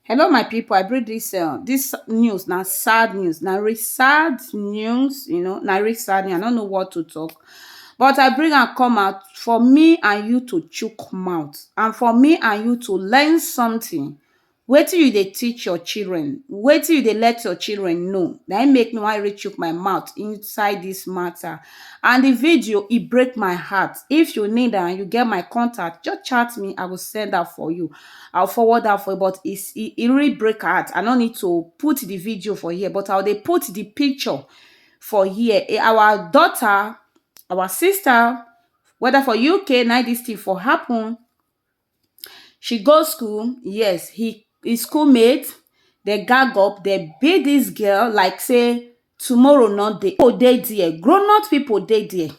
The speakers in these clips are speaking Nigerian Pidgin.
Hello my people, I bring this uh, this news na sad news, na really sad news, you know, na really sad news. I don't know what to talk. But I bring am come out for me and you to chook mouth and for me and you to learn something. Wetin you dey teach your children, wetin you dey let your children know, na im make me wan really chook my mouth inside this matter. And the video, e break my heart. If you need am, you get my contact, just chat me, I go send am for you. I will forward am for you but e e e really break her heart. I no need to put the video for here but I will dey put the picture for here. Eh, Our daughter, our sister, whether for UK, na this thing for happen. She go school, yes, he his schoolmate, they gag up, they beat this girl like say tomorrow no dey people dey there grown up people dey there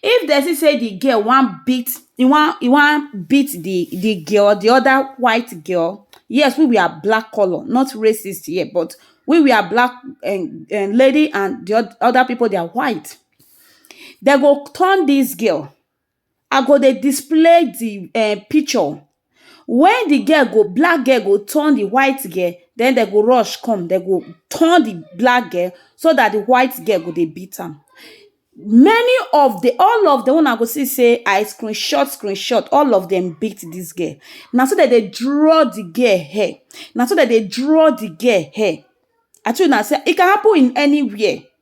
if dem see say the girl wan beat e wan e wan beat the the girl the other white girl yes we we are black colour not racist here but we we are black um um lady and the other people they are white dem go turn this girl I go dey display di um picture wen di girl go black girl go turn di white girl den dem go rush come dem go turn di black girl so dat di white girl go dey beat am many of di all of dem wey una go see sey I screen shot screen shot all of dem beat dis girl na so dem dey draw di girl hair na so dem dey draw di girl hair I tell una sey e can happen in anywhere.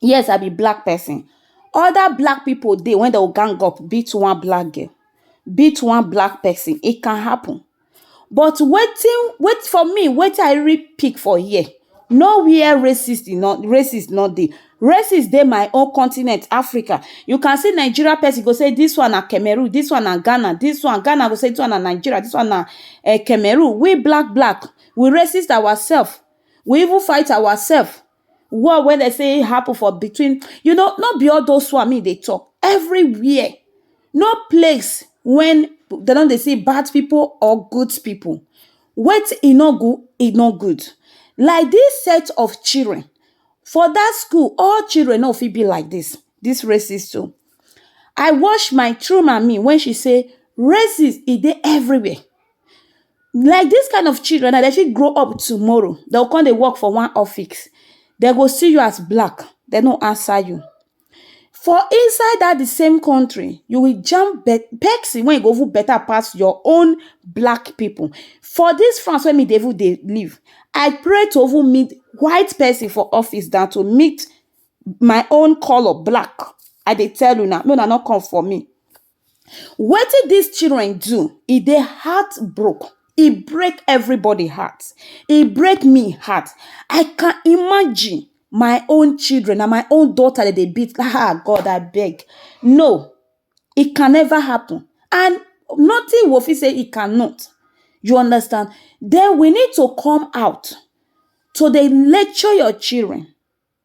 Yes, I be black person. Other black people dey when they will gang up, beat one black girl, beat one black person. It can happen. But wetin, wait for me, wetin I really pick for here, no where racist e no, racist no dey. Racist dey my own continent, Africa. You can see Nigeria person go say this one na Cameroon, this one na Ghana, this one, Ghana go say this one na Nigeria, this one na um Cameroon. We black, black, we racist ourself. We even fight ourself. war wey dem say happen for between you know no be all those one me dey talk everywhere no place when dem no dey see bad people or good people wetin e no good e no good like this set of children for that school all children no fit be like this this races so I wash my through my me when she say races e dey everywhere Like dis kind of children now, dem fit grow up tomorrow, dem go con dey work for one office. Dem go see you as black, dem no answer you. For inside dat the same country, you will jam pesin wey e go even better pass your own black pipu. For dis France wey me dey even dey live, I pray to even meet white pesin for office dan to meet my own colour, black. I dey tell una, make una no come for me. Wetin dis children do, e dey heart broke, e break everybody heart, e break me heart, I can imagine my own children, na my own daughter dem dey beat, ha God abeg, no, it can never happen and nothing we go fit say it cannot, you understand, den we need to come out to dey lecture your children.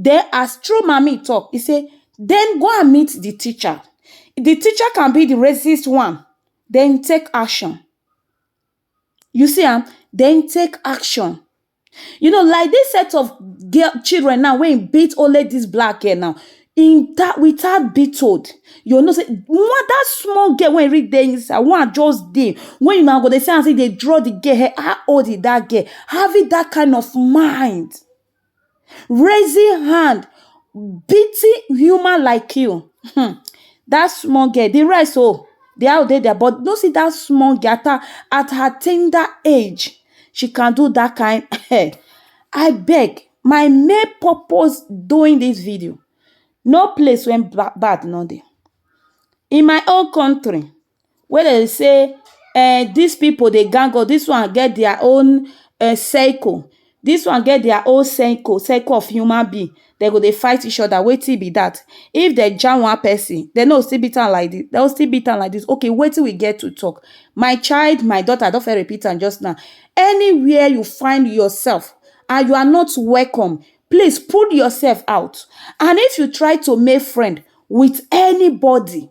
Den as true mummy talk, e say dem go and meet the teacher, the teacher can be the racist one, then take action. You see am, then take action. You know like this set of girl children now wey beat only this black girl now, in that with her be told, you go know say one that small girl wey read dey inside, one just dey when una go dey see am say dey draw the girl head, how old is that girl? Having that kind of mind. raising hand beating human like you um that small girl the rest oh dey how dey their body no see that small girl at her at her tender age she can do that kind um I beg my main purpose doing this video no place wey bad no dey in my own country. wey dem dey say um dis pipu dey gang us, dis one get dia own um circle, dis one get dia own circle, circle of human being, den go dey fight each oda, wetin be dat? If den jam one person, den no go still beat am like dis, den go still beat am like dis, ok wetin we get to talk? My child, my daughter, I don first repeat am just now, anywhere you find yourself and you are not welcome, please pull yourself out and if you try to make friend wit anybody.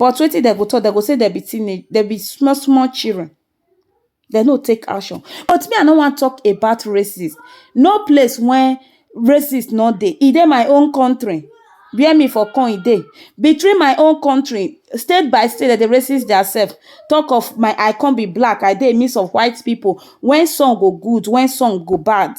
But wetin dem go talk, dem go say dem be teenage, dem be small small children. Dem no take action. But me I no wan talk about racism. No place when racism no dey. E dey my own country where me for con e dey. Between my own country, state by state dem dey racist their self. Talk of my I con be black, I dey midst of white people. When some go good, when some go bad.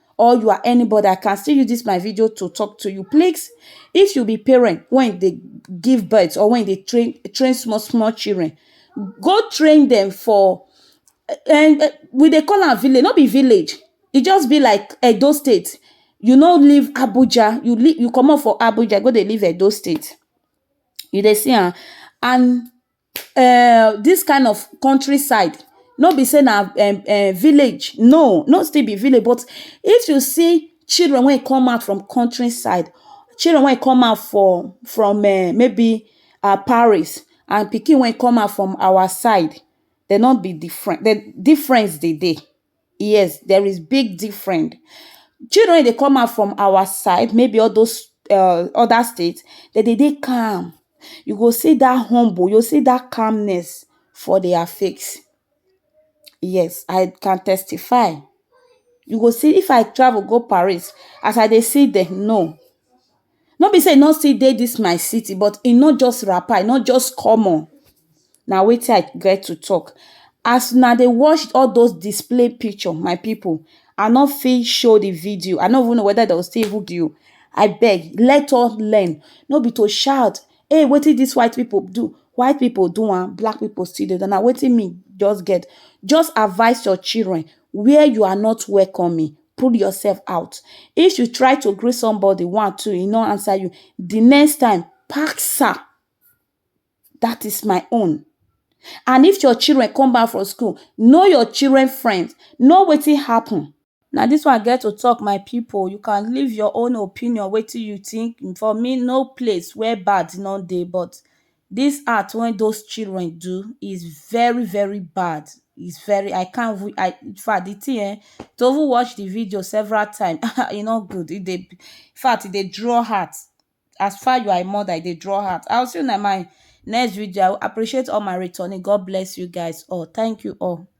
or you are anybody, I can still use this my video to talk to you. Please, if you be parent when they give birth or when they train train small small children, go train them for and eh, eh, we they call am village, not be village. It just be like Edo State. You no leave Abuja, you leave, you come up for Abuja, go they leave Edo State. You they see am and um this kind of country side no be say na um um village no no still be village but if you see children wey e come out from country side children wey e come out for from um maybe um Paris and pikin wey e come out from our side dem no be different difference dey dey. Yes, there is big different. Children wey dey come out from our side, maybe all those um other state, dem dey dey calm. You go see dat humble, you go see dat calmness for their face. Yes, I can testify. You go see if I travel go Paris, as I dey see dem, no! No be sey e no still dey dis my city but e no just wrapper, e no just common. Na wetin I get to talk. As una dey watch all dos display picture, my pipu, I no fit show the video. I no even know whether de go still even view. Abeg, let us learn. No be to shout, Hey! Wetin dis white pipu do? White pipu do am, black pipu still dey do am. Na wetin me just get. Just advice your children where you are not welcoming. pull yourself out. If you try to greet somebody one, two, he no answer you, the next time, pack sir, that is my own. And if your children come back from school, know your children friends, know wetin happen. Na this one I get to talk my people, you can leave your own opinion wetin you think, for me no place where bad no dey but Dis act wey those children do is very very bad is very I can't even I in fact de thing um to even watch de video several time um e no good e dey in fact e dey draw heart as far you are a mother e dey draw heart I will see you in my next video I will appreciate all my returning God bless you guys all thank you all.